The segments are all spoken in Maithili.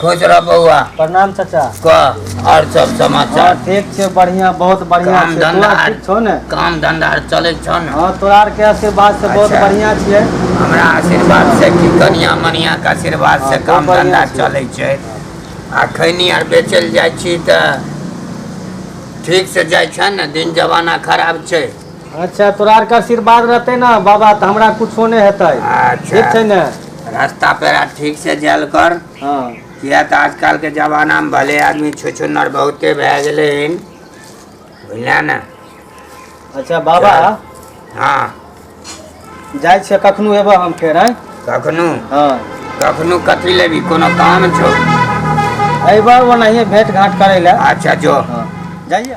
खुश रह बौआ प्रणाम चाचा कह और सब हाँ समाचार ठीक छै बढ़िया बहुत बढ़िया काम छै धंधा तोरा ठीक छौ ने काम धंधा आर चलै छौ ने हाँ तोरा आर के आशीर्वाद से बहुत अच्छा। बढ़िया छियै हमरा आशीर्वाद से की कनिया मनिया के आशीर्वाद से हाँ, काम बहुत धंधा बढ़िया छै। चलै छै आ खैनी आर बेचल जाइ छी तऽ ठीक से जाइ छै ने दिन जमाना खराब छै अच्छा तोरा आरके आशीर्वाद रहतै ने बाबा तऽ हमरा कुछो नहि हेतै अच्छा। ठीक छै ने रास्ता पेरा ठीक से जायल कर हँ किया तऽ आजकल के जमाना में भले आदमी छुछुन्नर बहुते भए गेले हन बुझलिया ने अच्छा बाबा हाँ जाइ छियै कखनो एबऽ हम फेर आँय कखनो हँ कखनो कथी लेबी कोनो काम छो अयबऽ ओनाहिए भेंट घाट करै लए अच्छा जो हँ जाइए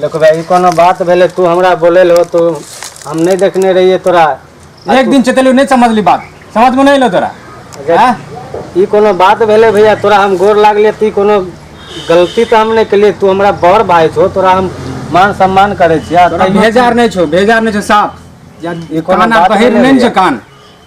देखो भाई ई कोनो बात भेले तू हमरा बोले लो तो हम नहीं देखने रहिए तोरा एक दिन चतलू नहीं समझली बात समझ में नहीं लो तोरा अगर हाँ? ई कोनो बात भेले भैया तोरा हम गोर लागले ती कोनो गलती तो हम नहीं केलिए तू हमरा बड़ भाई छो तोरा हम मान सम्मान करे छिया तोरा भेजार नहीं छो भेजार नहीं छो साफ या ई कोनो कान बात आ बहिर भेलै नहीं छो भैया। कान